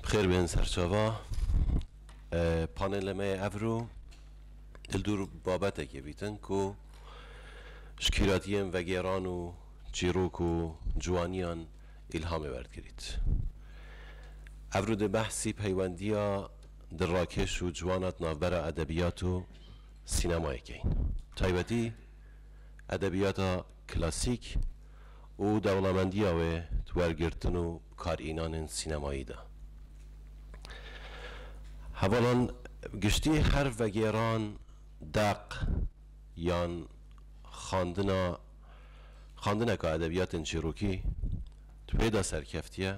Bi xêr bên serçava panêlê me yê evro li dûr babetekê bîtin ku ji kîratiyên vegêran û çîrok û ciwaniyan îlhamê werdigirît. Evro dê behsî peywendiya di rakêş û ciwana di navbera edebiyat û sînemayê kein. Bi taybetî edebiyata klasîk û dewlemendiya wê di wergirtin û karînanên sînemayî de. Hevalan giştî her vegêran, deq yan xandina xandineka edebiyatên çîrokî di wê de serkeftiye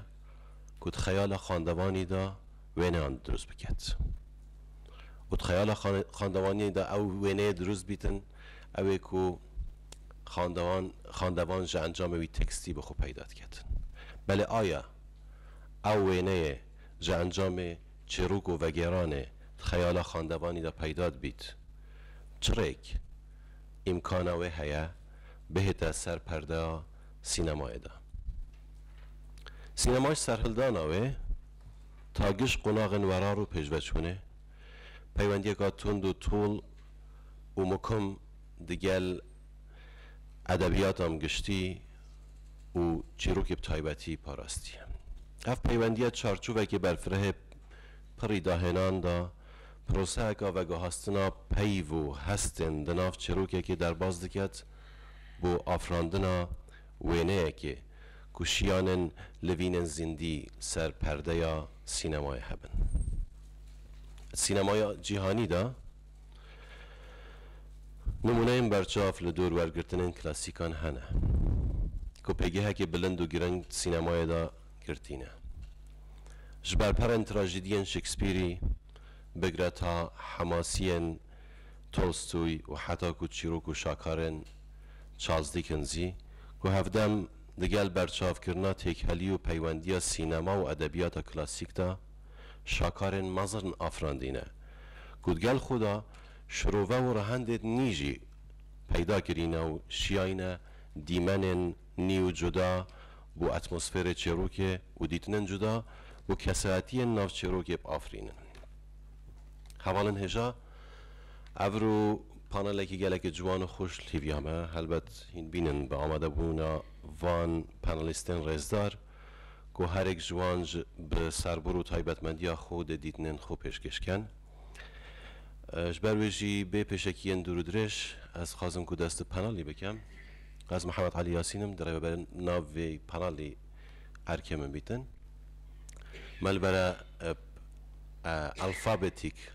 ku di xeyala xandevanî de wêneyan dirust biket û di xeyala xandevanî de ew wêneyê dirust bîtin, ew ê ku xandewan xandevan ji encamê wî tekstî bi xwe peyda diketin. Belê aya ew wêneyê ji encamê çêrok û vegêranê di xeyala xandevanî de peyda dibît. Çi rêk, îmkana wê heye bihête ser perdeya sînemayê de. Sînema ji serhildana wê ta giş qonaxên werar û pêşveçûnê, peywendiyeka tund û tol û mukum di gel edebiyata min giştî û çîrokê bi taybetî parastiye. Ev peywendiye çarçovekê berfirehê pirrî dahênan da proseyeka vegihastina peyv û hestên di nav çîrokekê derbas diket bo afirandina Wêneyekê ku şiyanên li vîn ên zîndî ser perdeya sînemayê hebin. Di sînemaya cîhanî de nimûneyên berçav li dûr wergirtinên klasîkan hene ku pêgehekê bilind û giring di sînemayê de girtîne. Ji ber perên trajîdiyên Shakespearî bigre ta hemasiyên Tolstoy û heta ku çîrok û şakarên Charles Dickens jî ku hevdem di gel berçavkirina têkhelî û peywendiya sînema û edebiyata klasîk de şakarên mezirn afirandîne ku di gel xwe de şirove û rehendên nî jî peyda kirîne û şiyayîne dîmenên nî û cuda bo atmosfêrê çêrokê û dîtinên cuda bo kesaetiyên nav çêrokê biafirînin. Hevalên hêja. Ev rû panelekî gelekî ciwan û xweş li hêviya me. Helbet hîn bînin bi amadebûna van panelîstên rêzdar ku herêk ji wan ji bi serbûr û taybetmendiya xwe dê dîtinên xwe pêşkêş ken. Ji ber wê jî bê pêşekiyên dûr û dirêj ez dixwazim ku dest bi panelî bikim. Ez Mihemed Elî Yasîn im, dirêveber nav vê panelî erkê min bîtin. Me li bere alfabetîk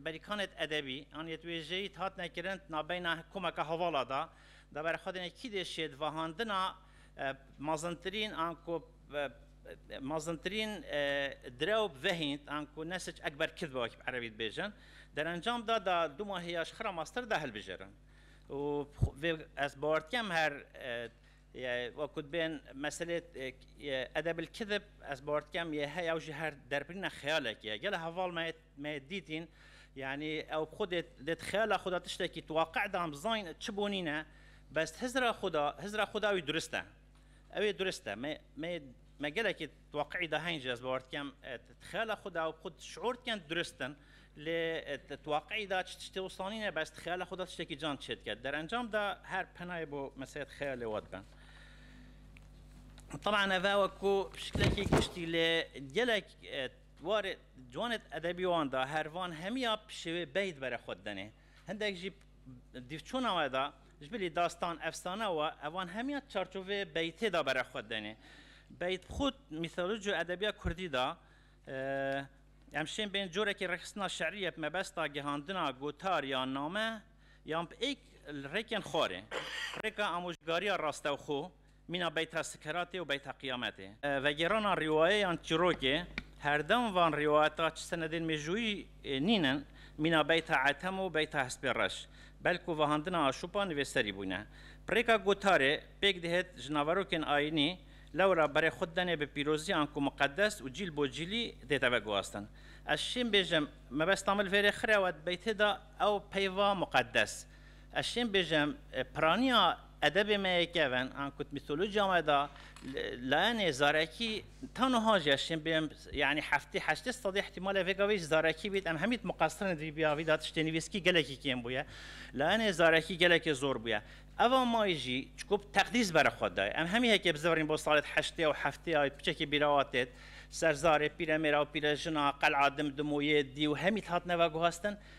Berikanêt edebî an yê wêjeyît hatine kirin nabeyna komeke hevala de. Di ber xwe de ne kî dê şêdvahandina mezintirîn an ku mezintirîn direw vehînt an ku ne sic ekber kid be wekî bi erebî dibêjin. Derencam de da du mahî ya ji xira master de hilbijirin. Û vê ez bawer dikim her yê wekû dibên meselê edebil kidib ez bawer dikim yê heye ew jî her derbirîna xeyalekê ye. Gelo heval me yê Me dîtîn yanî ew xwe dê dê di xeyala xwe de tiştekî tu waqî de bizanîn çi bo nîne bes hizra xwe de hizra xwe de ew ê durist e. Ew ê durist e. Me me me gelekî di waqî de heyn jî ez bawer dikim di xeyala xwe de ew xwe şiûr dikin durist in lê di waqî de çi tiştê wisa nîne bes di xeyala xwe de tiştekî can çê dike. Derencam de her penayê bo meselê di xeyalê we dibe. Taban eve wekû şiklekî giştî lê gelek Di warê ciwanê edebî wan de her van hemiya pişêwê bey di berê xwe de dene. Hindek jî dîvçûna we de ji bilî dastan, efsane û evan hemiya çarçovê beytê de berê xwe dene. Beyt bi xwe mîtoloji û edebiya kurdî de em şên bên corekî rêxistina şerî ye bi mebesta gihandina gotar yan name yan bi êk li rêkên xwarê. Rêka amojgariya rastexo Mîna beyta sikeratê û beyta qiyametê. Vegêrana rîwayeyan çîrokê, herdem van rîwayeta çi senedên mêjûyî nînin, mîna beyta etem û beyta hespê reş, belkû vahandina aşûpa nivêserî bûne. Pirêka gotarê, pêk dihet ji naverokên ayînî, lewra berê xwe didene bi pîrozî anku miqedes û cîl bo cîlî dête veguhastin. Ez şêm bêjim, mebesta min li vê rê xirewet beytê da ew peyva miqedes. Ez şên bêjem piraniya edebê me yê kevin an kut mîtolojiya me da layenê zarekî ta nuha jî ez şên bêjem yanî heftê heştê sedî ihtimalê vê gavê jî zarekî bît em hemî muqestir in vî vî da tiştê nivîskî gelekî kêm bûye layenê zarekî gelekê zor bûye eva mayî jî çikû bi teqdîs bere xwe daye em hemî heke bi zivirîn bo salê heştê ew heftê ew piçekê bîrawa têt serzarê pîremêra û pîrejina qel'a dimdim û yê dî û hemî dihatine veguhestin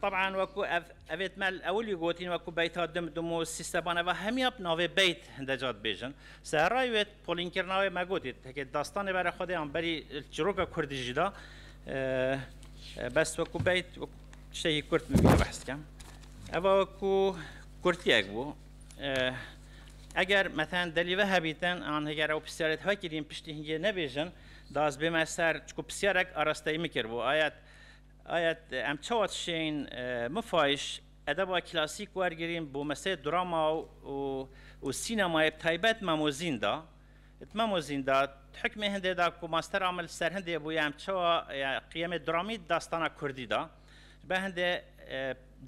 Tab'an wek ku ev evê temel ewil wî gotîn wek ku beyta dim dim û sîsteban eva hemiya bi navê beyt hinde ca dibêjin. Serrayê wê polînkirina wê me gotî tekê destanê bere xwedê an berî çîroka kurdî jî da. Bes wek ku beyt tiştekî kurd min vîya behs dikem. Eva wek ku kurtiyek bû. Eger meten delî ve hebîtin an heger ew pisyarê di hekirîn piştî hingê nebêjin da ez bême ser çku pisyarek arasteyî min kiribû ayet Aye em çawa dişên min fayiş edeba klasîk wergirîn bo meseyê drama û sînemayê bi taybet mamozîn da. Di mamozîn da di hikmê hindê da ku mastera min li ser hindê bûye em çawa qiyemê dramî di dastana kurdî da ji ber hindê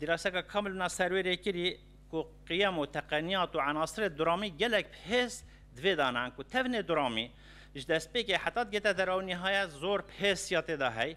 dîraseka kamil min a serwêrê kirî ku qiyem û teqeniyat û enasirê dramî gelek bi hêz di vê da ne ku tevnê dramî ji destpêkê heta digihte der û nihayet zor bi hêz ya tê da hey.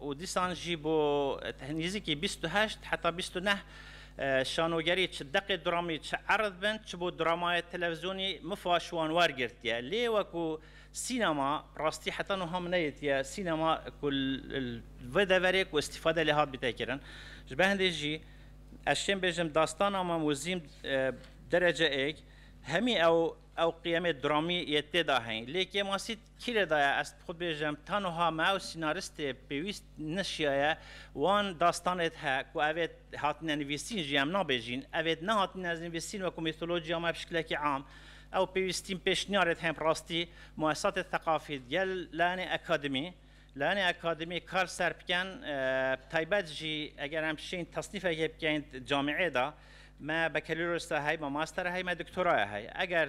û dîsan jî bo nêzîkî bîst û heşt heta bîst û neh şanogerî çi deqê dramî çi erd bin çi bo dramayê televîzyonî mifa şi wan wergirtiye lê wekû sînema rastî heta nuha min neyêtiye sînema ku li vê deverê ku îstîfade lê hat bîte kirin ji ber hindê jî ez çêm bêjim dastana Mam Wezîm derece êk hemî ew ew qiyemê dramî yê têda heyî lê Kêmasît Kî lê daye ez bi xwe bêjim ta nuha me ew sînaristê pêwîst neşiyaye wan dastanê dihe ku ev ê hatine nivîsîn jî em nabêjîn ev ê nehatine nivîsîn wekû mîtolojîya me bi şikilekî am ew pêwîstîn pêşniyarê dihe bi rastî muesesatê theqafî digel layanê akademî layanê akademî kar ser bikin bi taybet jî eger em şîn tesnîfekê bikeyn di camîeyê de me bekeloryosa heye me mastera heye me doktora heye eger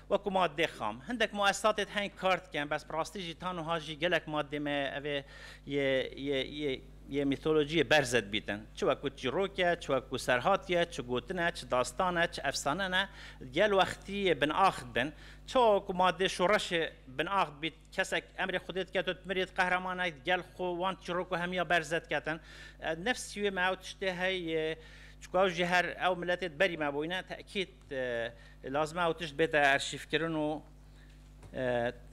Wekû madeyê xam, hindek muesisatê di heng kar dikin, bes bi rastî jî tan wiha jî gelek madeyê me ev ê yê yê yê yê mîtolojiyê berze dibîtin. Çi wekû çîrok e, çi wekû serhatî ye, çi gotin e, çi dastan e, çi efsane ne, di gel wextî yê binax dibin. Çawa wekû madeyê şoreşê binax dibît, kesek emrê xwedê dike to dimirît, qehremanek di gel xwe wan çîrok û hemiya berze diketin. Nefsî wê me ew tiştê heye yê, çikû ew ji her ew miletê di berî me bûyine, tekît. Lazim e ew tişt bête erşîvkirin û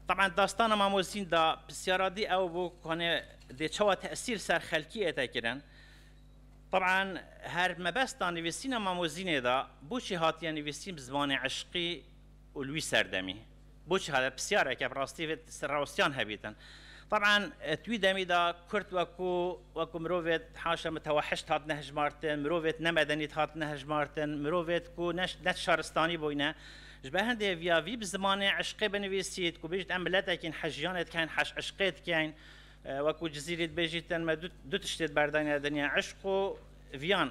taban dastana Mamozîn da pirsyara dî ew bû ku hanê dê çawa tesîr ser xelkî ete kirin. Taban her mebesta nivîsîna Mamozînê da bûçî hatiye nivîsîn bi zimanê eşqî û li wî serdemî. Boçî hate pisyareke bi rastî vê rewştiyan hebîtin. Taban di wî demî de kurd wekû wekû mirovê haşa mitewehişt hat nehijmartin, mirovê nemedenî hat nehijmartin, mirovê ku ne ne şaristanî bûyne. Ji ber hindê vîya vî bi zimanê eşqê binivîsît ku bêjît em miletekîn hejiyanê dikeyn, heş eşqê dikeyn. Wekû Cizîrî dibêjîtin me du du tiştê di ber dayne dinya eşq û viyan.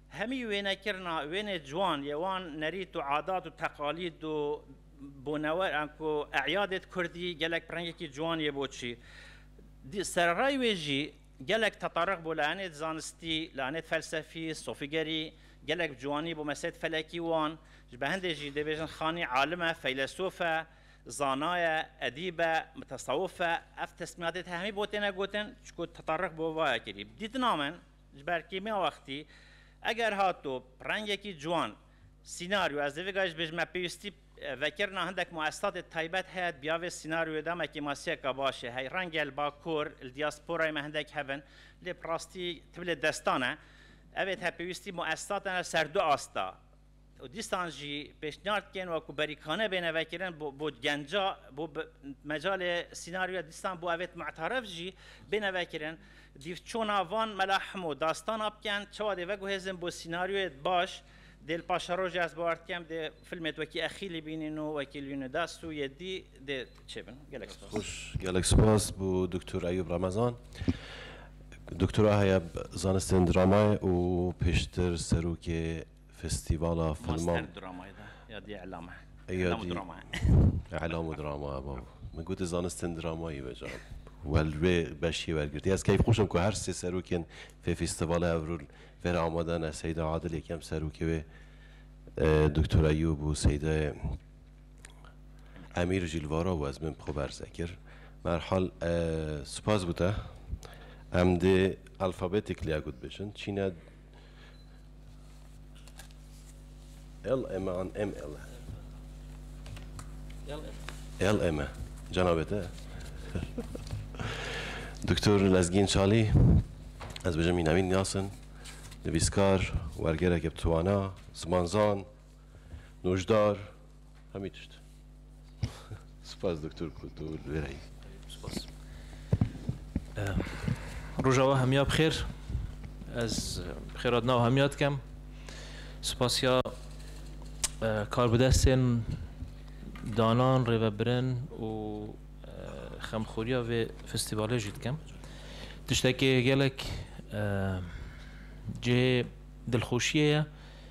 Hemî wênekirina wênê ciwan yê wan nerît û adat û teqalîd û bonewer an ku e'yadê di kurdî gelek bi rengekî ciwan yê bo çî. Dî sererayê wê jî gelek tetaruk bo layanê di zanistî, layanê di felsefî, sofîgerî, gelek bi ciwanî bo meselê di felekî wan. Ji behendê jî dê bêjin Xanî alim e, feylesof e, zana ye, edîb e, mutesewif e. Ev tesmîyatê di hemî bo têne gotin çiku tetaruk bo vaya kirî. Dîtina min. Ji ber kêmiya wextî, eger hato rengekî ciwan, sînaryo, ez dêvêga jî bêjim me pêwîstî vekirina hindek muessesetê taybet heye diya vê sînaryoyê de me kêmasiyeka baş ê hey. Renge li Bakur, li diasporayê me hindek hev in lê bi rastî ti bi lê destan e. Evê ti hevpêwîstî muessesatên ser du asta, û dîstan jî pêşniyar dikên wekû berîkane bêne vekirin bo genca bo mecalê sînaryoya dîstan bo evêt me'teref jî bêne vekirin dîv çona van mela himo dastana bikin çawa dê veguhêzin bo sînaryoyê baş dê li paşa rojê ez bawer dikim dê filmê wekî exîlî bînin û wekî li wînê dest û yedî dê çêbin gelek spas. Xweş gelek spas bo Doktor Eyûb Remezan Doktora heye zanistên dramayê û pêştir serokê Festîvala Filma Îlam û Drama e bav. Min got tu zanistên dramayî be can. We li vê beşê wergirtî. Ez keyf xweş im ku her sê serokên vê festîvala Ewrûl vê re amade ne. Seyda Adil yekem serokê wê, Doktor Eyûb û Seydayê Emîr jî li va re û ez min bi xwe berze kir. Bi her hal spas bi te. Em dê alfabetically ya ku dibêjin. Çîn e. L M an M L L M cenabete Doktor Lezgin Çalî ez bijim Navîn Yasin nivîskar wergereke bi twana zimanzan nojdar Hemî tişt. Spas Doktor ku tu li wêra yî. Spas. Rojava hemiya bi xêr. Ez bi xêra di nav hemiya dikem. Spasiya karbidestên danan, rêvebirin û xemxoriya vê festîvalê jî dikim. Tiştekê gelek cihê dilxweşiyê ye.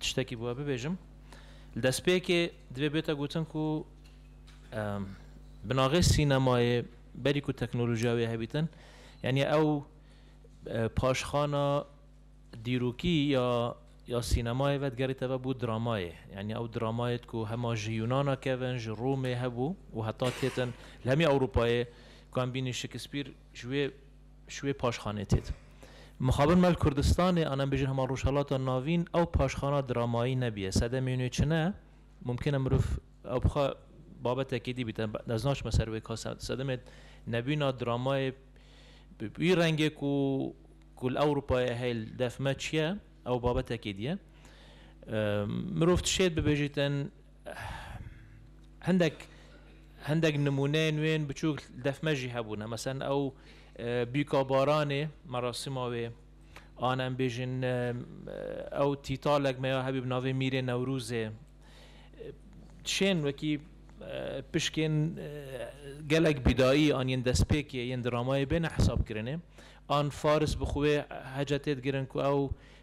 Tiştekî bi we bibêjim. Li destpêkê divê bête gotin ku binagê sînemayê berî ku teknolojiya wê hebî din, yanî ew paşxana dîrokî ya ya sînemayê ve digerîte ve bû dramayê. Yanî ew dramayê ku hema ji Yûnana kevin, ji Romê hebû û heta têtin li hemî Ewropayê ku em bînî Şekîspîr ji wê Ji wê paşxanê tê de Mixabin Mel Kurdistanê an em bêjin hema Rojhilata Navîn ew paşxana dramayî nebîye. Sedemê nû çi ne? Mumkin e mirov ew bixwe babetekê dî bît. Ez naçime ser wê ka sedemê nebîna dramayê bi wî rengê ku ku li Ewropayê heye li dev me çi ye ew babetekê dî ye. Mirov tişêt bibêjîtin Hindek hindek nimûneyên wê yên biçûk li def me jî hebûne. Meselen ew Bîka Baranê merasîma wê an em bêjin ew tîtalek me ya hebî bi navê Mîrê Newrûzê şên wekî pişkên gelek bîdayî an yên destpêkê yên dramayê bêne hesabkirinê. An Faris bi xwe heca tê digirin ku ew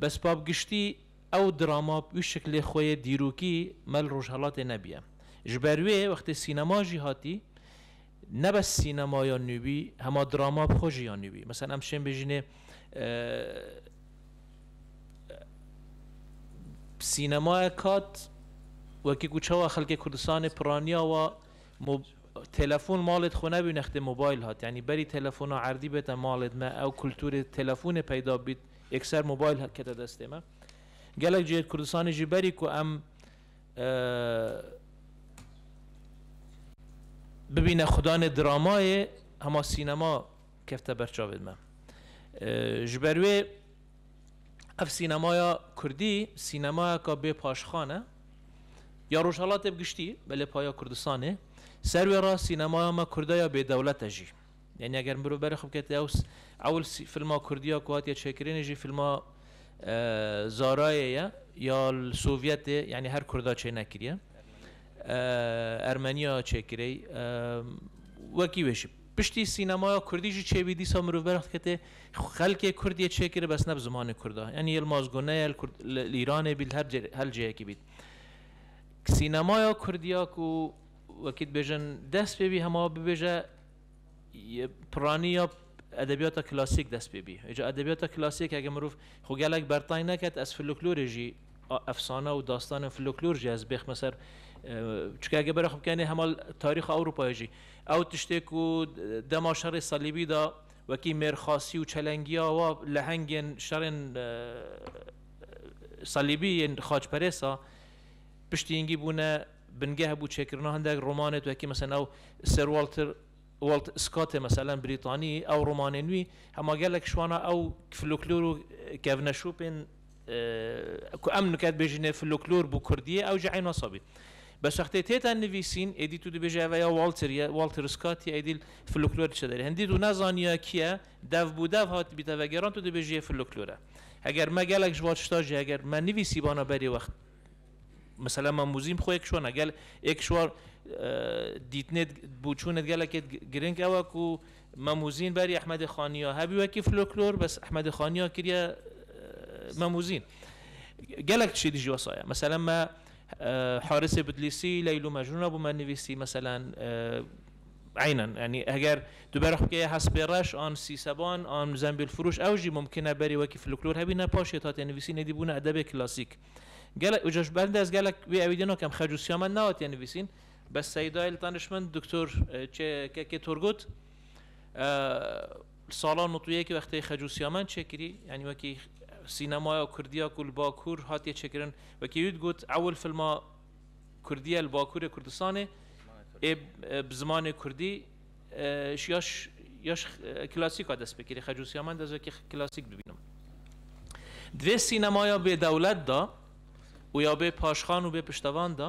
Bes ba bi giştî ew drama bi wî şiklê xwe yê dîrokî me li Rojhelatê nebûye. Ji ber wê wextê sînema jî hatî, ne bes sînema ya nû bî, hema drama bi xwe jî ya nû bî. Meselen em şên bêjînê sînemayek hat wekî ku çawa xelkê Kurdistanê piraniya wa Telefon malê di xwe nebî nextê mobayl hat. Yanî berî telefona erdî bête malê di me ew kulturê telefonê peyda bît ekser mobayl kete destê me. Gelek cihê di Kurdistanê jî berî ku em bibîne xudanê dramayê hema sînema kefte ber çavê di me. Ji ber wê Ev sînemaya kurdî sînemayeka bê paşxan e. Ya Rojhelatê bi giştî, belê paya Kurdistanê. Ser wê re sînemaya me kurde ya bêdewlet e jî. Yanî eger mirov berê xwe bikete ew ewil filma kurdî ya ku hatiye çêkirinê jî filma Zarayê ye ya li Sovyetê yanî her kurda çê nekiriye. Ermenîya çêkirey. Wekî wê jî. Piştî sînemaya kurdî jî çêbî dîsa mirov berx diketê, xelkê kurd yê çêkirê bes ne bi zimanê kurd a. Yanî yel mazgo ne yel kurd li li îranê bît li her cê hel cêyekî bît. Sînemaya kurdî ya ku wekî dibêjin dest pê bî hema bibêje y piranî ya edebiyata klasîk dest pê bî. Îca edebiyata klasîk heke mirov xwe gelek bertay neket ez filiklorê jî Efsane û dastanên floklor jî ez bêxme ser çike ege bera xwe bikenê hema tarîxa Ewropayê jî. Ew tiştê ku dema şerê salîbî de wekî mêrxasî û çelengiya wa lehengên şerên salîbî yên xaçperêst a piştî yingî bûne bingeh bû çêkirina hindek romanê wekî meselen ew Sir Walter Walt Scottê meselen brîtanî ew romanên wî hema gelek şwana ew floklor û kevneşopên Ku em nike dibêjîne floklor bû kurdî ye ew jî eyna sabî. Bes wextê têta nivîsîn êdî tu dibêje ev ya Walter ye, Walter Scott ye êdî floklor diçe derê. Hindî tu nezaniya kî ye, dev bû dev hatibî te vegeran tu dibêjî yê floklor e. Heger me gelek ji van tişta jî heger me nivîsîbana berê wext mesela me muzîm xwe yê kişwana gel ê kişwa dîtinê bûçûnê gelekê giring ew e ku Mam Huzîn berî Ehmedê Xaniya hebî wekî floklor bes Ehmedê Xaniya kiriye Mam Huzîn. Gelek tiştî dijî wesa ye. Meselen me Harisê Bidlîsî Leyl û Mecnûn re bo me nivîsî meselen eynen yanî eger tu bera xwe keye Hespê Reş an Sîseban an Zembîl Firûş ew jî mimkin e berî wekî floklor hebîne paşê tu hatiye nivîsîn êdî bûne edebê klasîk. Gelek uca ji ber de ez gelek wê ewîdî nakim xec û siyamet nehatiye nivîsîn Be Seyda li danişmend Doktor Çe Kekê Turgut li sala nût û yek wextê xecûsiyamen çêkirî yanî wekî sînemaya Kurdiya ku li Bakur hatiye çêkirin wekî wî digot ewil filma Kurdiye li Bakurê Kurdistanê ê bi zimanê Kurdî ji ya ya ji klasîk a dest pê kirî xecûsiyamen ez wekî klasîk bibînim. Di vê sînemaya bêdewlet de û ya bê paşxan û bê piştevan de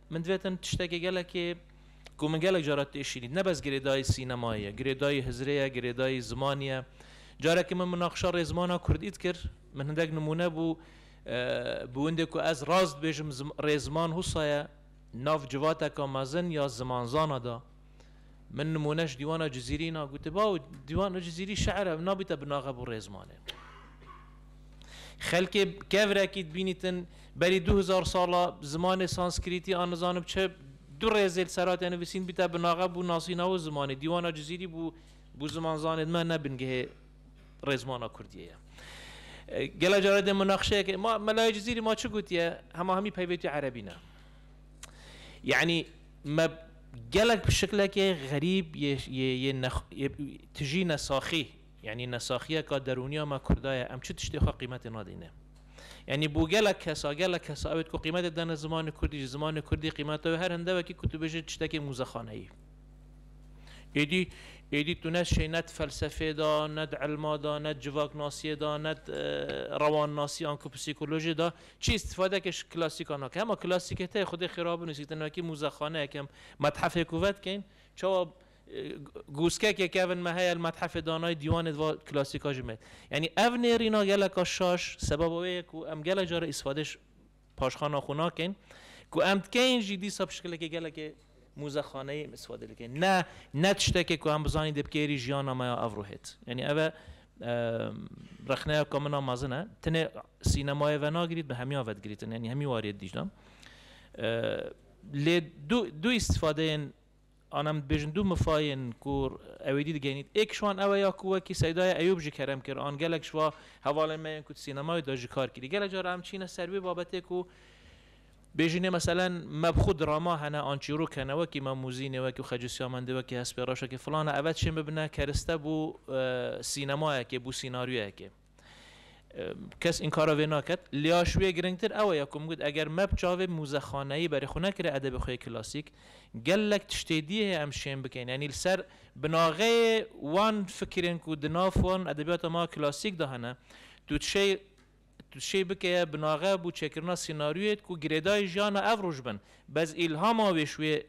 Min divê tim tiştekê gelekê ku min gelek caran tê şînîn. Ne bes girêdayî sînemayê ye, girêdayî hizirê ye, girêdayî zimanî ye. Carekî min minaqişa rê zimana kurdî dikir, min hindek nimûne bû bi windê ku ez rast dibêjim rê ziman husa ye nav civateka mezin ya zimanzana de. Min nimûne ji dîwana Cizîrî na gote, Baw, dîwana Cizîrî şeir e, nabîte bi naxeb û rêzmanê. Xelkê kevrekî dibînîtin, berî du hezar sala zimanê sanskrîtî an nizanim çi du rêzê li ser hate nivîsîn bîte bi naxeb û nasîna wê zimanê. Dîwana Cizîrî bû bû zimanzanê di me ne bingehê rêzmana Kurdiyê ye. Gela carê dê munaqşeyekê, ma melayê Cizîrî ma çi gotiye, hema hemî peyvêtî erebî ne. Yanî me gelek bi şiklekê xerîb yê yê yê nex yê tijî nesaxî yanî nesaxiyeka derûnî ya me Kurda ye em çi tiştê xwe qîmetê nadîne. Yanî bo gelek kesa gelek kesa ewêt ku qîmetê dane zimanê Kurdî jî zimanê Kurdî qîmeta wê her hinde wekî ku tu bijî tiştekê mûzexaneyî. Êdî êdî tu ne şey ne di felsefê de ne di ilma de ne di civaknasiyê de ne di rewannasî anku psîkolojî de Çi îstîfadeke ji klasîka nake. Hema klasîkê tê, xwedê xêra bin û sîtinakî mûzexaneyek ya metxefêk û vedikeyn. Çawa gûskekê ke evin me heye li metxefê danayî dîwanê di va klasîka jî meyî. Yanî ev nêrîna geleka şaş sebeba wê ye ku em gelek jare îstîfadê ji paşxana xwe nakeyn. Ku em dikeyn jî dîsa bi şikilekê gelekê Muzexaneyê miswade dike. Ne, ne tiştekê ku em bizanîn dê bi kêrî jiyana me ya ev ruhêt. Yanî ev e rexneya ka min a mezin e. Tenê sînemayê venagirît, bi hemiyan vedigirîtin. Yanî hemî warî yê Dîclan. Lê du du îstîfadeyên an em dibêjin du mifayên ku ewêdî digeynît. Êk ji wan ew e ya ku wekî Seydaya Eyûb ji kerem kir an gelek ji va hevalên me yên ku di sînemayê de jikar kirî. Gelek caran em çîne ser wê babetê ku Bêjî nê meselen me bi xwe drama hene an çîrok hene wekî me Mûzî nê wekî Xecî Sîyamendî wekî Hespê Reşekê filan e eve çên bibine keriste bo sînemayekê bo sînaryûyekê kes înkara vê naket lîa ji wê giringtir ew ye ku min got eger me bi çavê mûzexaneyî berê xwe nekiriye edebê xwe yê klasîk gelek tiştê dî heye em şên bikin yanî li ser binaxeyê wan fikirên ku di nav wan edebîyata ma klasîk de hene tu dişê Tu şê bike binaxe bo çekirina sînaryûyêd ku girêdayî jiyana ev roj bin. Bez îlhama wê şûyê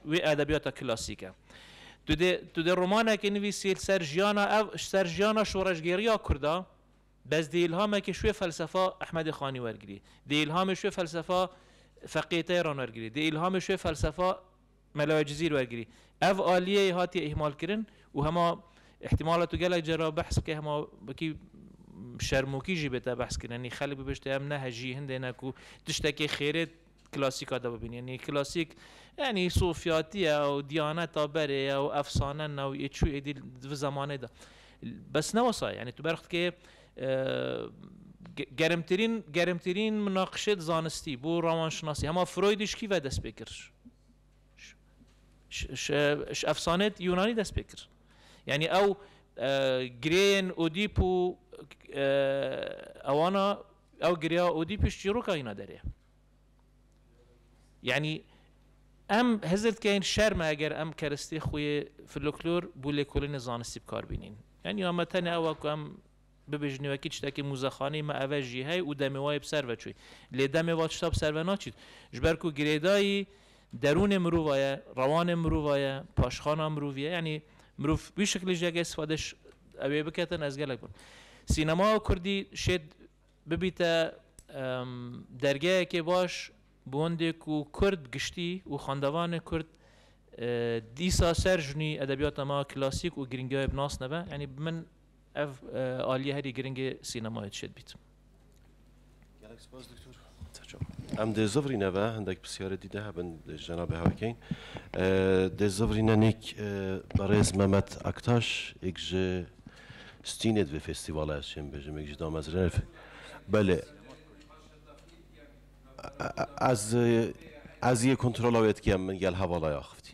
wê edebiyata klasîk e. Tu dê tu dê romanekê nivîsî li ser jiyana ev ji ser jiyana şoreşgêriya kurd a. Bez dê îlhamekê şûyê felsefa Ehmedê Xanî wergirî. Dê îlhamê şûyê felsefa Feqîyê Teyran wergirî. Dê îlhamê şûyê felsefa Melaye Cizîr wergirî. Ev aliyê hatiye îhmalkirin û hema îhtîmala tu gelek car a behs bike hema wekî şermokî jî bê te behs kirin. Yanî xelk bibişte em ne hejî hindê ne ku tiştekê xêrê klasîka de bibînî. Yanî klasîk yanî sofiyatî ye ew diyaneta berê ye ew efsane ne ew ê çû ê dî di vi zemanê de. Bes ne wisa ye. Yanî tu berx dikê Germtirîn germtirîn minaqişê di zanistî bû rawanşinasî. Hema Freudî ji kî ve dest pê kir? Ji efsaneyê Yûnanî dest pê kir. Yanî ew girêyên Odîp û ewana ew gireya Odîp ji çîroka hîna derê ye. Yanî em hizir dikein şer me eger em keristê xwe yê floklor bû lêkolînê zanistî bikar bînîn. Yanî ya me tenê ew e ku em bibêjin wekî tiştekî muzexaneyê me ev e jî hey û demê wayê bi ser ve çûy. Lê demê va tişta bi ser ve naçît. Ji ber ku girêdayî derûnê mirova ye, rewanê mirova ye, paşxana mirovî ye. Yanî mirov wî şiklê jî eger îstîfade ji ew ê bike tenê ez gelek bi. Sînema kurdî şêd Bibîte dergehekê baş bi wendê ku Kurd giştî û xwendevanê Kurd dîsa ser jinî edebiyata ma klasîk û girîngiya wê binasneve, yanî bi min ev aliye herî girîngê sînemayê dişê dibît. Gelek spas Diktor. Em dê zivrîne ve hindek pisyarê dî de hebin ji cenabê hev bikin. Dê zivrîne nîk berêz Memet Aktaş êk ji stînê di vê festîvala ez çêm bêjim êk ji damezrênê belê ez ez yê kontrola wê dikim min gel hevala axivtî.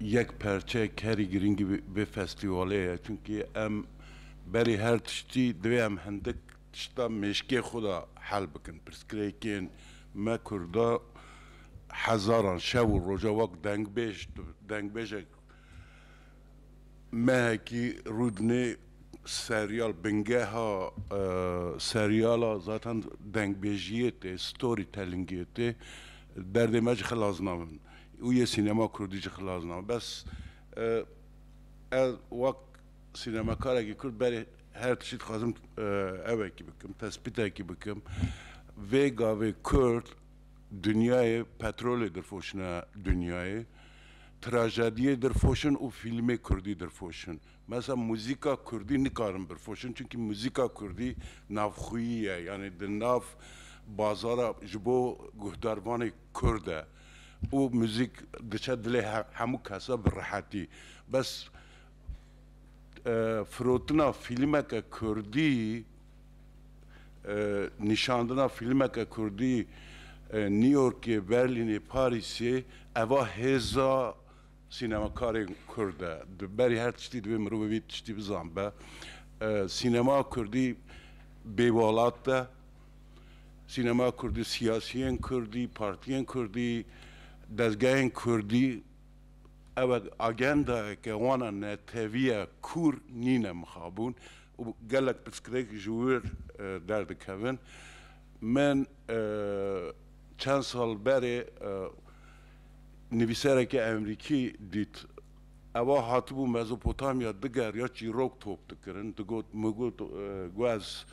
yek perçe kerî girîng vê festîwalê ye çunkî em berî her tiştî divê em hindik tişta mêşkê xwe de hel bikin pirsgirêkên me kurda hezaran şev û roja wek dengbêj tu dengbêjek mehekî rûdinê serîyal bingeha serîyala zaten dengbêjîyê tê storytellingê tê derdê me ji xilas nabin Û yê sînema kurdî jî xilas nabin. Bes ez wek sînemakarekî kurd berê her tiştî dixwazim evekî bikim, tespîtekî bikim. Vê gavê kurd dinyayê petrolê dirfoşine dinyayê, trajediyê dirfoşin û fîlmê kurdî dirfoşin. Mesela muzîka kurdî nikarin birfoşin çunkî muzîka kurdî navxwîyî ye. Yanî di nav bazara ji bo guhdarvanê kurd e. û muzîk diçe dilê hemû kese bi rehetî. Bes firotina fîlmeke kurdî, nîşandina fîlmeke kurdî Newyorkê, Berlînê, Parîsê eva hêza sînemakarên kurd e. Di berî her tiştî divê mirovê vî tiştî bizanbe. Sînema kurdî bêwelat e. sînema kurdî, siyasiyên kurdî, partiyên kurdî, dezgehên kurdî ew agendayeke wan e neteviya kûr nîne mixabûn û gelek pirsgirêk ji wir derdikevin. Min çend sal berê nivîserekî Emrîkî dît ewa hatibû Mezopotamya digeriya çîrok top dikirin digot, min got gu ez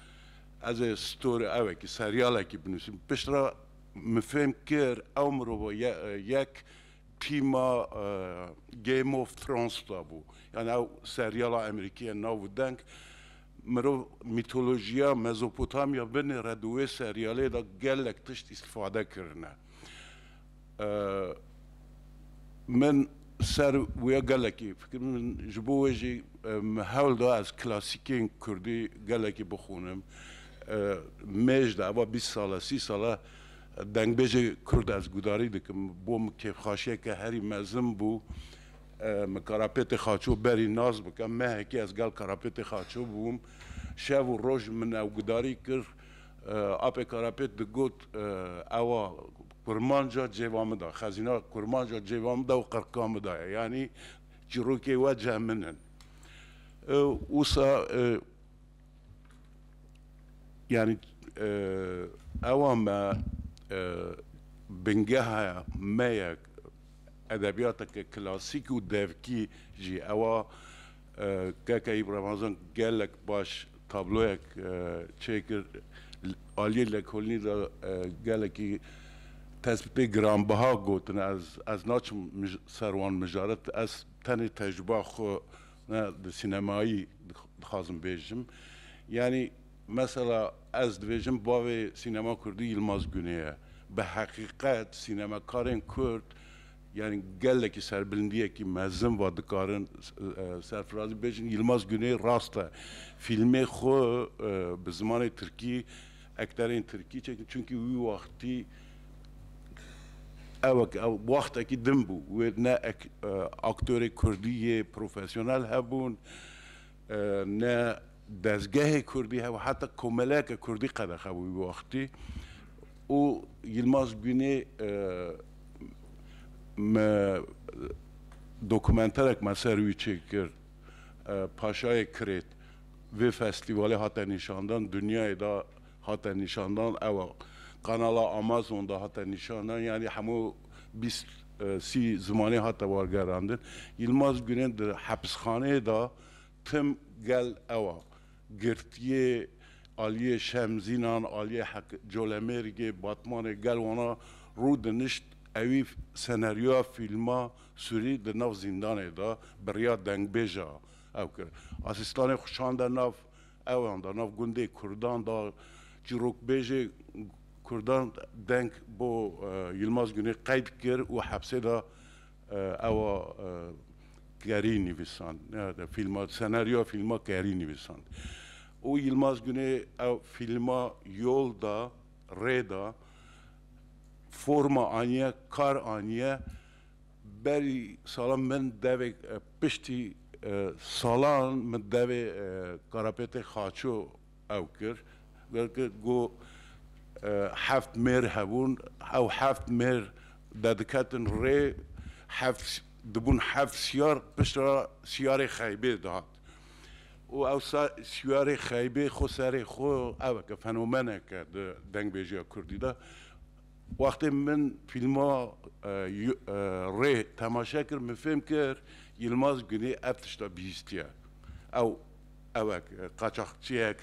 Ez ê story evekî seryalekî binûsim pişt re min fêm kir ew mirova yek tîma Game of Thrones da bû yani ew seryala emerîkî ye nav û deng mirov mîtolojiya Mezopotamya binê re di wê seryalê de gelek tişt îstifade kirine Min ser wê gelekî fikir min ji bo wê jî min hewl da ez klasîkên kurdî gelekî bixwînim. Mêj de ava bîst sal e sî sal e dengbêjê kurd ez gudarî dikim. Bo min kêfxaşiyeke herî mezin bû. Min Karapêtê Xaço berî nas bikim. Mehekê ez gel Karapêtê Xaço bûm. Şev û roj min ew gudarî kir. Apê Karapêt digot ewa Kurmanca cêva min da. Xezîna kurmanca cêva min da û qirka min da ye. Yanî çîrokê we ceh min in. Wisa yanî ewa me bingeha me ye edebiyateke klasîk û devkî jî ewa Keke Ramazan gelek baş tabloyek çêkir aliyê lekolînî de gelekî tespîtê giranbiha gotine ez naçim ser wan mijaret ez tenê tecrûba xwe ne di sînemayî dixwazim bêjim yanî mesela ez dibêjim bavê sînema kurdî Yilmaz Gunê ye bi heqîqet sînemekarên kurd Yanî gelekî serbilindiyekî mezin va dikarin serfirazî bêjin. Yilmaz Guney rast e fîlmê xwe bi zimanê tirkî, ekterên tirkî çêkin çunkî wî wextî ew e ku wextekî din bû wê ne aktorê kurdî yê profesyonel hebûn Ne dezgehê kurdî hebe heta komeleke kurdî qedexe bû wî wextî û Yilmaz Gunê me dokumenterek me ser wî çêkir Paşayê Kirêt vê festîvalê hate nîşandan dinyayê de hate nîşandan ew kanala Amazon de hate nîşandan yanî hemû bîst sî zimanê hate wergerandin. Yilmaz Gurên di hepisxaneyê de tim gel ew girtiyê aliyê Şemzînan, aliyê Colemêrgê, Batmanê gel wana rû dinişt ewî senaryoya fîlma Sûrî di nav zîndanê de bi riya dengbêja ew kir. Asîstanê xwe şande nav. Ewan da nav gundê kurdan da çîrokbêjê kurdan deng bo Yilmaz Gunê qeyd kir û hepsê da ewa kerî nivîsand neyade fîlma senaryoya fîlma kerî nivîsand û Yilmaz Gunê ew fîlma yol da rê da forma aniye kar aniye berî salan min devê Piştî salan min devê Karapêtê Xaço ew kir. Weke ku heft mêr hebûn, ew heft mêr de diketin rê, heft dibûn heft siyar, piştre re siyarê xeybê dihat. Û ew siyarê xeybê xwe serê xwe eweke fenomeneke di dengbêjiya kurdî de. Wextê min fîlma Rê temaşe kir min fêm kir Yilmaz Gunê ev tişta bihîstiye. Ew ew e qaçaxçiyek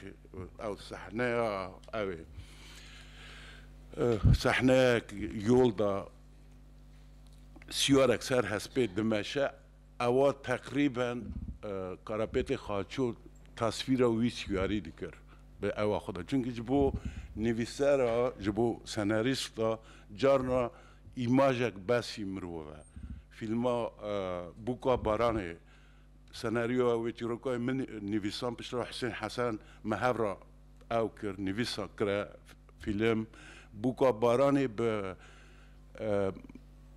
ew sehneya ew ê. Sehneyek yol de siyarek ser hespê dimeşe. Ewa teqrîben Karapetê Xaço tasvîra wî çiyarî dikir bi ewa xwe de. Çunkî ji bo nivîser a, ji bo senarîst a carna îmajek besî mirov e. Fîlma Bûka Baranê senaryoya wê çîrokayê min nivîsan piştre Husên Hesen me hev re. Ew kir, nivîsa kire, fîlm, bûka baranê bi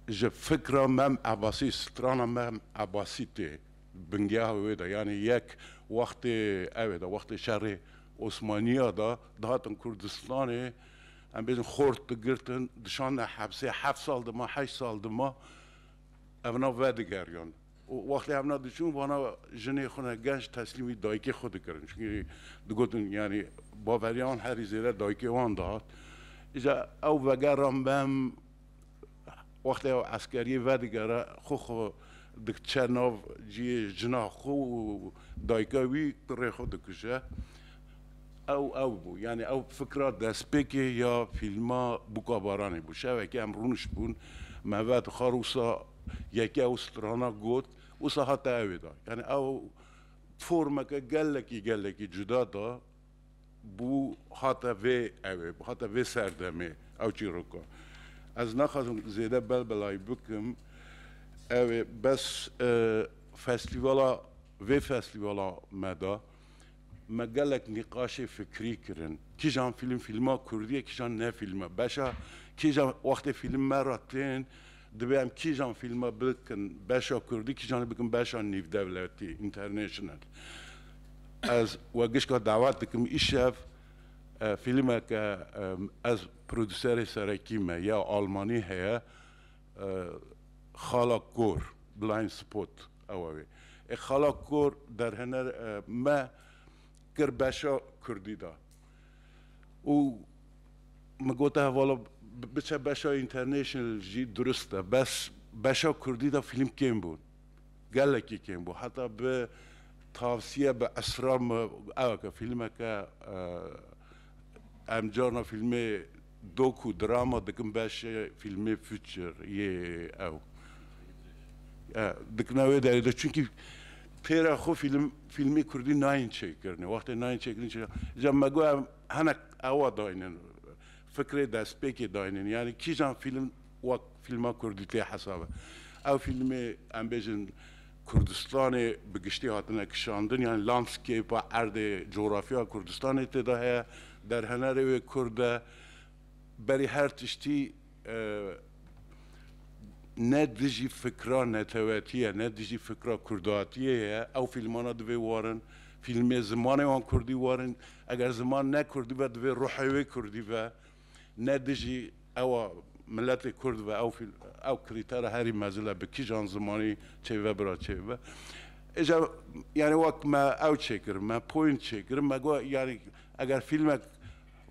ji fikra Mem Ebasî, strana Mem Ebasî tê bingeha wê de. Yanî yek wextê ew ê de, wextê şerê Osmaniya de dihatin Kurdistanê, em bêjin xort digirtin, dişandin hepsê, heft sal dima, heşt sal dima evna vedigeriyan. Û wextê hevna diçûn vana jinê xwe ne genç teslîmî dayikê xwe dikirin. Çunkî digotin yanî baverîya wan herî zêde dayikê wan dihat. Îca ew vegera mem wextê ew eskerîyê vedigere xwe xwe dikiçe nav cîyê jina xwe û dayika wî kurê xwe dikuje. Ew ew bû. Yanî ew fikra destpêkê ya fîlma Bûka Baranê bû. Şevekê em rûniştbûn, me ve dixwar wisa yeke ew strana got, wisa hate evê de. Yanî ew formeke gelekî gelekî cuda de bû hate vê evê, hate vê serdemê ew çîroka. Ez naxwazim zêde belbelayî bikim, ew ê bes festîvala vê festîvala me de, Me gelek nîqaşê fikrî kirin, kîjan fîlm fîlma kurdî ye kîjan ne fîlm e, beşa kîjan wextê fîlm me re tên divê em kîjan fîlme bikin beşa kurdî kîjanê bikin beşa nîvdewletî, international. Ez we gişka dawet dikim îşev fîlmeke ez produserê serekî me ya almanî heye Xala Kor, Blind Spot. Ewa wê. Ê xala kor derhener me kir beşa kurdî de û min gote hevala biçe beşa international jî durist e bes beşa kurdî de fîlm kêm bûn. Gelekî kêm bû. Heta bi tavsiye bi esrar me ew ke fîlmeke em carna fîlmê Doku drama dikin beşê fîlmê Future yê ew e. Dikine wê derê de çunkî pêra xwe fîlm fîlmê kurdî nayên çêkirinê. Wextê nayên çêkirinê çi da? Îca me got em hinek ewa dayînin fikrê destpêkê dayînin. Yanî kîjan fîlm Wek fîlma kurdî tê hesabe. Ew fîlmê em bêjin Kurdistanê bi giştî hatine kişandin yanî landscape-a erdê cografya Kurdistanê tê de heye. Derhenerê wê kurd e. Berî her tiştî ne dijî fikra netewetiyê ne dijî fikra kurdatiyê ye. Ew fîlmana divê warin. Fîlmê zimanê wan kurdî warin. Eger ziman ne kurdî be divê ruhê wê kurdî be. Ne dijî ewa miletê kurd ve ew ew krîtera herî mezil e bi kîjan zimanî çêbibe bira çêbibe. Îja yanî wek me ew çêkir me point çêkir me got yanî eger fîlmek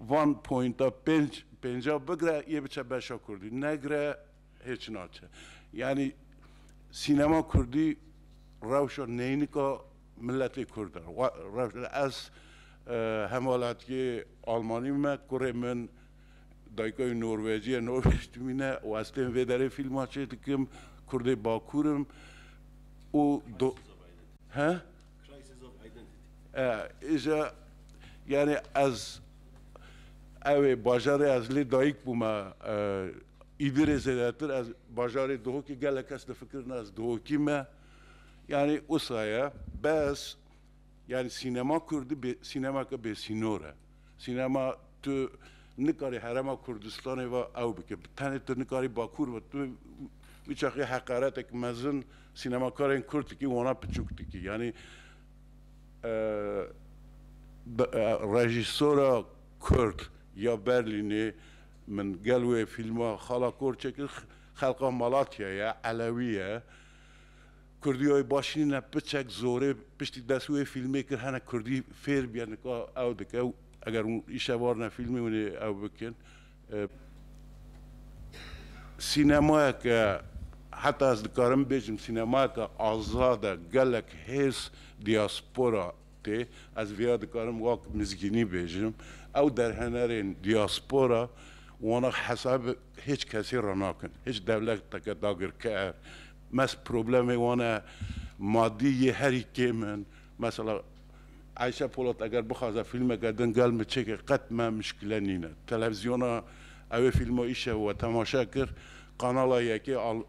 van pointa pênc pênca bigre yê biçe beşa kurdî negre Hiç naçe. Yanî sînema kurdî rewşa neynika miletê kurd e. Ez hemwelatîyê almanî me, kurê min dayika wî norwecî ye, norwec dimîne û ez tên vê derê fîlma çêdikim. Kurdê bakur im û do he? Îja yanî ez ewê bajarê ez lê dayîk bûme Îdirê zêdetir ez bajarê Duhokê gelek kes difikirine ez Duhokî me yanî wisa ye bes yanî sînema kurdî sînemeke bêsînor e. Sînema tu nikarî herêma Kurdistanê ve ew bike. Bi tenê tu nikarî Bakur ve. Tu biçaxî heqaretek mezin sînemakarên Kurd dikî wana piçûk dikî. Yanî rejîsora Kurd ya Berlînê min gel wê fîlma Xala Korçe kir. Xelqa Malatyayê ye, Elewî ye. Kurdî û baş nîne piçek zorê piştî dest wê fîlmê kir hene kurdî fêr bîye nika ew dike û eger hûn îşev arine fîlmê hûn ê ew bikin sînemayeke heta ez dikarim bêjim sînemayeke azad e gelek hêrs dîaspora tê ez vêya dikarim wak mizgînî bêjim ew derhenerên dîaspora wana hesab hêç kesê re nakin hêç dewleteke dagirker Mest problemê wan e madî yê herî kêm in. Mesela Ayşe Polat eger bixwaze fîlmeke din gel min çêke qet me muşkile nîne. Televîzyona ew ê fîlma îşev we temaşe kir, Kanala Yekê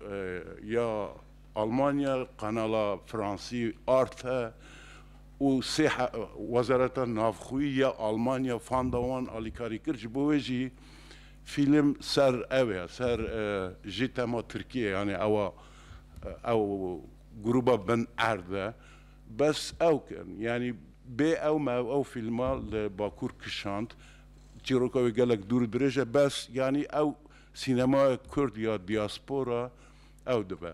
ya Almanya, Kanala Fransî Arte û sê Wezareta Navxwî ya Almanya fanda wan alîkarî kir. Ji bo wê jî Fîlm ser ew e, ser jî tema Tirkiyê yanî ewa ew grûba bin erd e. Bes ew kirin. Yanî bê ew me ew fîlma li Bakur kişand. Çîroka wê gelek dûr û dirêj e bes yanî ew sînemaya Kurd ya diaspora ew dibe.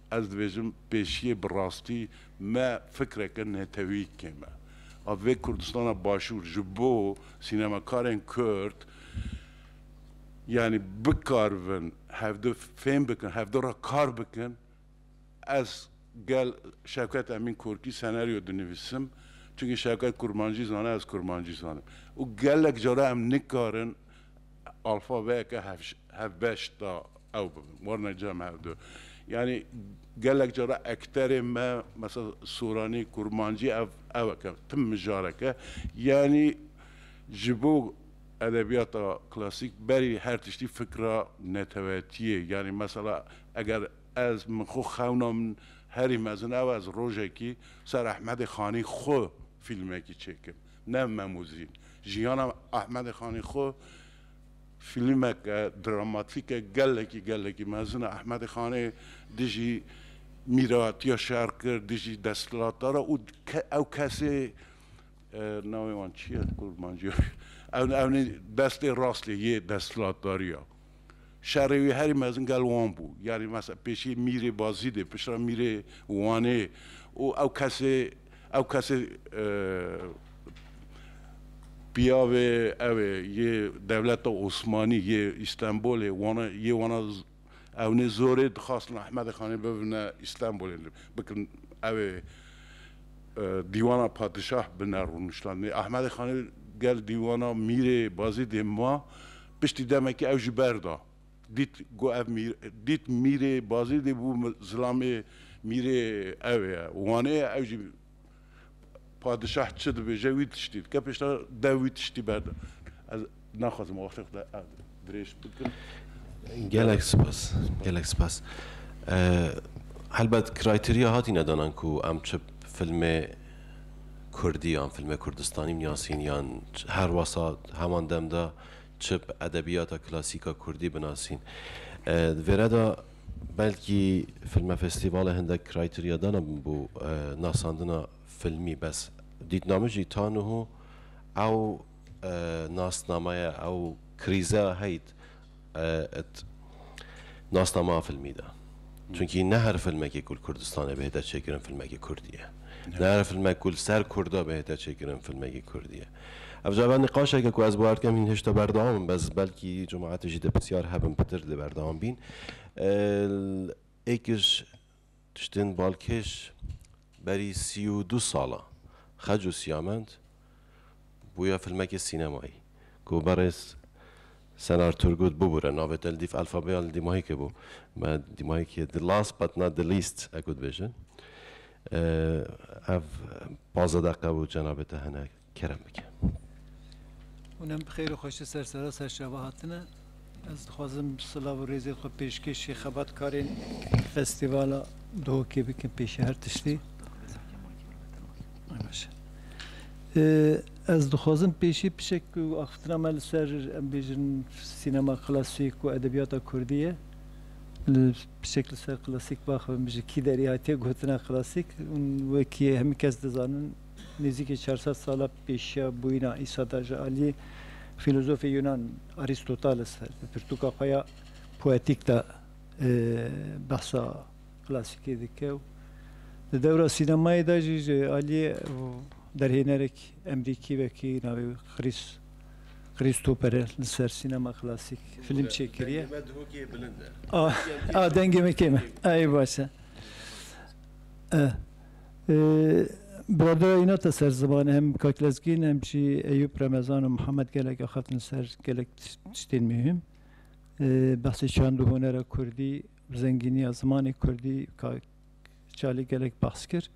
Ez dibêjim pêşiyê bi rastî me fikreke netewî kêm e. A vê Kurdistana Başûr ji bo sînemakarên Kurd yanî bikaribin hevdu fêm bikin, hevdu re kar bikin, ez gel Şevket Emîn Korkî senaryo dinivîsim, çunkî Şevket Kurmancî zane ez Kurmancî zanim û gelek cara em nikarin, Alfabeyeke hevbeş da ew bibin, warine cem her du. Yanî gelek cara ekterên me mesela soranî, kurmancî ev ew e ke tim mijareke yanî ji bo edebiyata klasîk berî her tiştî fikra netewetiyê yanî mesela eger ez min xwe xewna min herî mezin ew ez rojekî ser Ehmedê Xanî xwe fîlmekî çêkim. Nev Memuzîn, jiyana Ehmedê Xanê xwe fîlmeke dramatîke gelekî gelekî mezin e. Ehmedê Xanê dijî mîratiya şer kir, dijî desthilata re û ew kesê navê wan çi ye kurmancî? Ew nê destê rastê yê desthilatdariya. Şerê wî herî mezin gel wan bû. Yanî mesela pêşî mîrê Bazîdê, piştre mîrê Wanê û ew kesê ew kesê piyavê ew ê yê dewleta Osmanî yê Îstenbolê wana yê wana ewnê zorê dixwastin Ehmedê Xanê bibine Îstenbolê bikin ew ê dîwana padişah bine rûniştandinê. Ehmedê Xanê gel dîwana mîrê Bazîdê ma Piştî demekê ew jî berda. Dît ku ev mîr dît mîrê bazê dê bû zilamê mîrê ew ê Wanê ye ew jî padişah çi dibêje wî tiştî dike piştre dew wî tiştî berda. Ez naxwazim wextê xwe dirêj bikim. Gelek spas, gelek spas. Helbet kraytîriya hatîne danan ku em çi filmê kurdî yan filmê kurdistanî binasîn yan her wasa heman dem de. Çip edebiyata klasîk a kurdî binasîn. Di vê re de belkî filmefestîvalê hindek kraytîriya din a bo nasandina filmî bes dîtname jî ta niho ew nasnamaya ew krîze a heyt it nasnama a filmî de. Çunkî ne her filmekê ku li Kurdistanê bihête çêkirin filmekê kurdî ye. Ne her filmek ku li ser kurda bihête çêkirin filmekê kurdî ye. Ev cava niqaşeke ku ez guhert kem hîn hişta berdewam in bez belkî cumaetê jî dê pisyar hebin pitir dê berdewam bîn. Êkiş tiştên balkêş berî sî û du sal e xec û siyament bûye filmekê sînemayî ku berêz Senar Turgut bibûre navê te li dîf elfabeya li dîmahîkê bû me dîmahîkê the last but not the least e ku dibêjin. Ev pazdeh deqe bû cenabê te hene kerem bike. Hûn em bi xêr û xweşî ser serasa şeva hatine. Ez dixwazim silav û rêzên xwe pêşkêşî xebatkarên festîvala Duhokê bikim pêşî her tiştî. Ez dixwazim pêşî pişek ku axiftina me li ser em bêjin sînema klasîk û edebiyata kurdî ye. Li pişek li ser klasîk baxibin bije kî derî hatiye gotina klasîk û wekî hemî kes dizanin nêzîkî çar sed sala pêşiya bûyîna Îsa da ji aliyê fîlozofê Yunan Arîstoteles di pirtûka xwe ya Poetik de behsa klasîkê dike û di dewra sînemayê de jî ji aliyê derhênerek Emrîkî wekî navê wî Chris Christopher e li ser sînema klasîk fîlm çêkiriye. Dengê me duhokê bilind e. A dengê me kêm e. Eyê baş e. Biradera Inat e ser ziman hem Kak Lezgîn hem jî Eyûp Remezan û Mihemed gelek axaftin li ser gelek tiştên muhîm. Behsê çand û hunera kurdî û zengîniya zimanê kurdî ka Çalî gelek behs kir,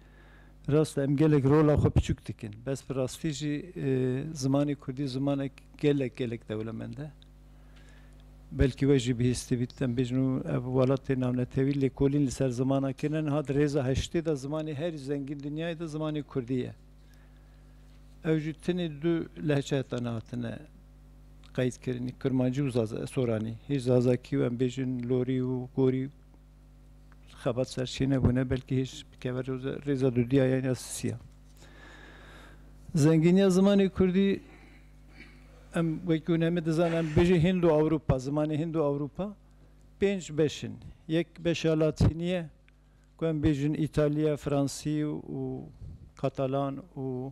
Rast e em gelek rola xwe piçûk dikin, bes bi rastî jî zimanê kurdî zimanek gelek gelek dewlemend e. Belkî we jî bihîstî bît em bêjin û ev welatê navnetewî lêkolîn li ser zimana kine niha di rêza heştê de zimanê herî zengîn dinyayê de zimanê kurdî ye. Ew jî tenê du lehçe heta niha hatine qeydkirin, Kirmancî û Soranî. Hêj Zazakî û em bêjin Lorî û Gorî xebat serçê nebûne belkî hêj bikeve rêza dûdiya yan ya sisiya. Zengîniya zimanê Kurdî em wekî hûn hemî dizan em bêjî Hind û Ewropa, zimanê Hind û Ewropa pênc beş in. Yek beşa latînî ye ku em bêjin Îtalya, Fransî û Katalan û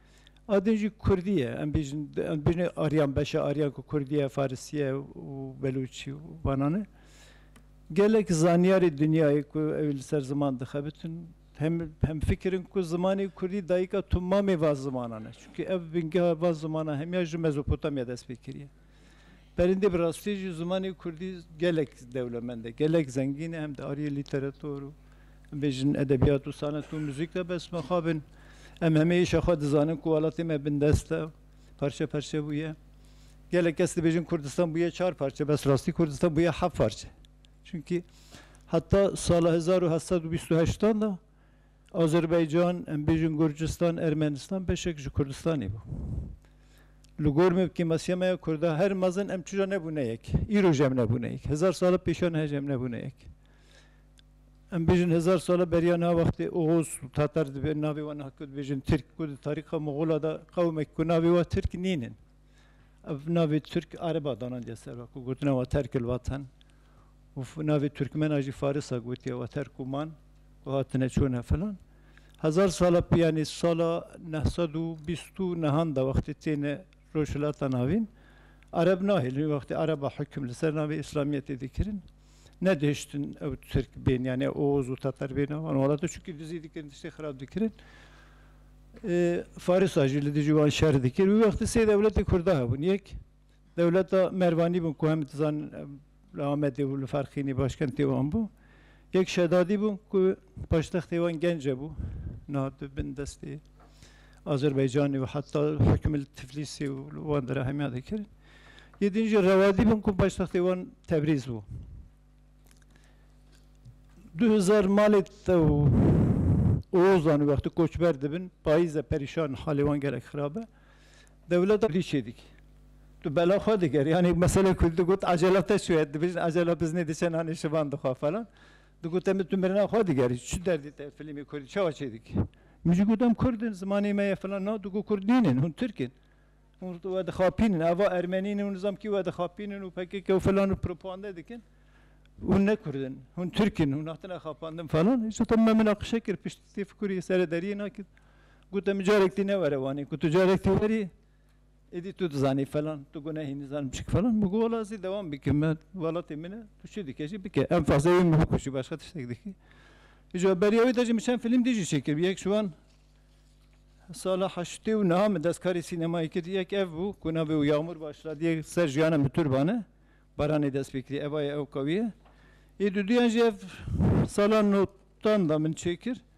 A din jî kurdî ye. Em bêjin em bêjin aryan beşa aryan ku kurdî ye, farisî ye û belûçî û banan e. Gelek zanyarê dinyayê ku ew li ser ziman dixebitin hem hemfikir in ku zimanê kurdî dayika tomamê van zimanan e. Çimkî ev bingeha van zimanan hemiya ji Mezopotamya dest pê kiriye. Perîndê bi rastî jî zimanê kurdî gelek dewlemend e, gelek zengîn e hem di ariyê lîterator û bêjin edebiyat û sanet û muzîk de bes mixab bin em hemê îşa xwe dizanin ku welatê me bindest e û parçe parçe bûye. Gelek kes dibêjin Kurdistan bûye çar parçe bes rastî Kurdistan bûye heft parçe. Çunkî heta sala hezar û heft sed û bîst û heştan de Azerbaycan, em bêjin Gurcistan, Ermenistan beşek ji Kurdistanê bû. Li gor me bi kêmasiya me ya Kurda her mezin em çira nebûne yek. Îro jî em nebûne yek. Hezar sala pêşiya niha jî em nebûne yek. Em bêjin hezar sala beriya niha wextê Oghuz û Tatar dibê navê wan niha ku dibêjin Tirk ku di tarîxa Moxola de qewmek ku navê wa Tirk nînin. Ev navê Tirk Areba danandiye ser wan ku gotina wan terkil watan. û navê Turkmen a jî Faris a gotiye water ku man û hatine çûne filan. Hezar sala pê yanî sala neh sed û bîst û nehan de wextê têne Rojhilata Navîn Ereb nahêlin. Wê wextê Ereb a hukm li ser navê Îslamiyetê dikirin nedihiştin ew Tirk bên yanî ew Oğuz û Teter bên a wan welata çunkî dizî dikirin tiştê xirab dikirin. Faris a jî li dijî wan şer dikir. Wê wextê sê dewletê Kurda hebûn. Yek Dewleta Mervanî bû ku hemî tu zanin li Amedê û li Ferxînê başkentê wan bû. Yek şedadî bû ku paştextê wan Gence bû. Niha di bin destê Azerbaycanê û heta hukmê li Tiflîsê û li wan dere hemî dikirin. Yê din jî Rewadî bû ku paştextê wan Tebrîz bû. Du hezar malê te û Oğuzan wextî koçber dibin, payîz e perîşan halê wan gelek xirab e. Dewleta dî çê dikî. Tu bela xwe digerî. Yanî meselê ku digot ecela te çûye, dibêjin ecela biznê diçe nanê şivan dixwe falan. Digot em tu mirina xwe digerî. Çi derdê te filîmê kurdî çawa çê dikî? Min jî got em kurd in, zimanê me ye filan. Na digot kurd nînin, hûn tirk in. Hûn wedixapînin. Eva ermenî ne û nizam kî wedixapînin û pkk û filan û propagande dikin. Hûn ne kurd in. Hûn tirk in. Hûn hatine xapandin falan. Îşo te min minaqişe kir. Piştî têfikurî serê deriyê nakir. Ku te micarek tî newere wanê ku tu carek tî werî êdî tu dizanî falan tu gunehî nizan bişik falan min got wala zî dewam bike me welatê min e tu çi dike jî bike em fazê wê min bikuşî başka tiştek dikî. Îja beriya wî de jî min çend fîlm dî jî çêkir yek ji wan sala heştê û niha min destkarî sînemayê kir yek ev bû ku navê û Yağmur Başla dî yek ser jiyana min turban e baranê dest pê kirî ev aye ew kawî ye. Ê dudûyan jî ev sala notan de min çêkir.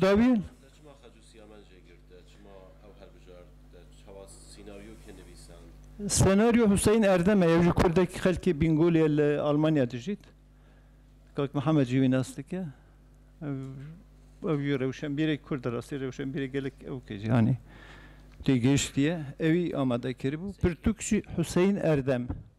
dawiyên. Senaryo Huseyîn Erdem e yew jî kurdek xelkê Bîngolê ye li Almanya dijît. Kak Mihemed jî wî nas dike. Ew ew jî rewşenbîrek kurd e rastî rewşenbîrek gelek ew ke cîhanê tê gihiştiye ewî amade kiribû. Pirtûk jî Huseyîn Erdem.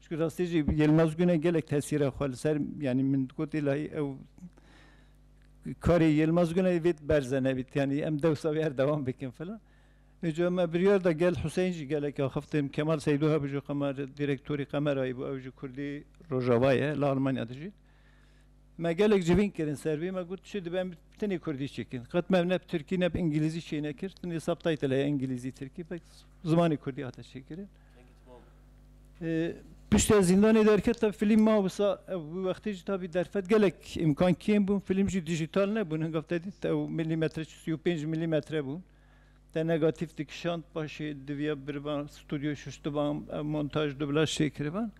Çku rastî jî Yilmaz Gune gelek tesîra xwe li ser yanî min dikotî la ew karê Yilmaz Gune vê berz e nevît yanî em dewsa wê her dewam bikin filan. Îca me biryar da gel Huseyn jî gelek axiftin. Kemal Seydû hebijî qemer dîrektorî Qemerayî bû ew ji kurdî rojava ye li Almanya dijî. Me gelek civîn kirin ser vî me got çi dibe em tenê kurdî çêkin. Qet me ne bi tirkî ne bi îngîlîzî çê nekir tenê subtitle heye îngîlîzî tirkî zimanê kurdî hate çêkirin. Piştî ez zîndanê derketim filîm ma wisa ew wî wextê jî tabî derfet gelek îmkan kêm bûn filîm jî dîjîtal nebûn hingav te dît ew milîmetre çi sî û pênc milîmetre bûn te negatîf dikişand paşê diviya birivan stûdyoyê şuştiban ew montaj dublaj tê kiriban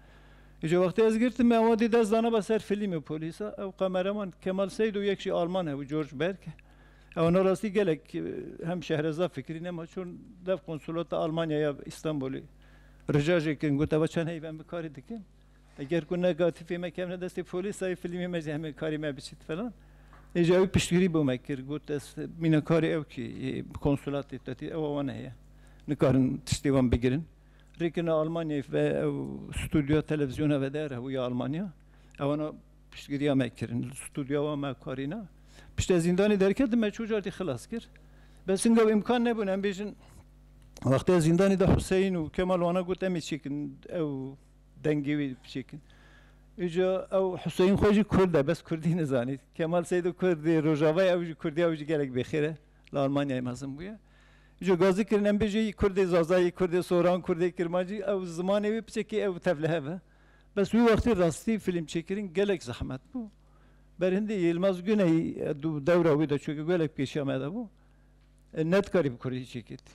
îca wextê ez girtim me awa dê dest danaba ser filîmê polîsa ew qemeraman Kemal Seyd û yek jî alman hebû George Berg. Ew na rastî gelek hem Şehreza Fikrî nema çûn dev konsulata Almanya ya Îstanbulê rica jê kirin got eva çend heyv em bi karî dikin eger ku negatifê me kevne destê polîsayê filîmê me jî hemê karî me biçît filan. Îja wî piştgirî bo me kir got ez mînekarê ew kê yê konsulatê te tê ewa wan heye nikarin tiştê wan bigirin. Rê kirina Almanyayê ve ew studyoya televîzyona ve der hebû ya Almanya ewa na Piştgiriya me kirin. Li studyowa me karî ne. Piştî ez zîndanê derketim me çû car tî xilas kir. Bes inga wê îmkan nebûn em bêjin wextê ez zîndanê de Huseyîn û Kemal wana got em ê çêkin ew dengê wî biçêkin. Îca ew Huseyîn xwe jî kurd e bes kurdî nizanî. Kemal Seydo kurdê Rojava ye ew jî kurdî ye ew jî gelek bêxêr e. Li Almanyayê mezin bûye. Îca gazdî kirin em bêjin î kurdê Zazayî, kurdê Soran, kurdê Kirmancî ew zimanê wê biçe kê ew tevlihev e. Bes wî wextî rastî fîlmçêkirin gelek zehmet bû. Berhindî Yilmaz Guneyî dewra wî de çû gelek pêşiya me de bû. Nedikarî bi kurdî çêkê tî.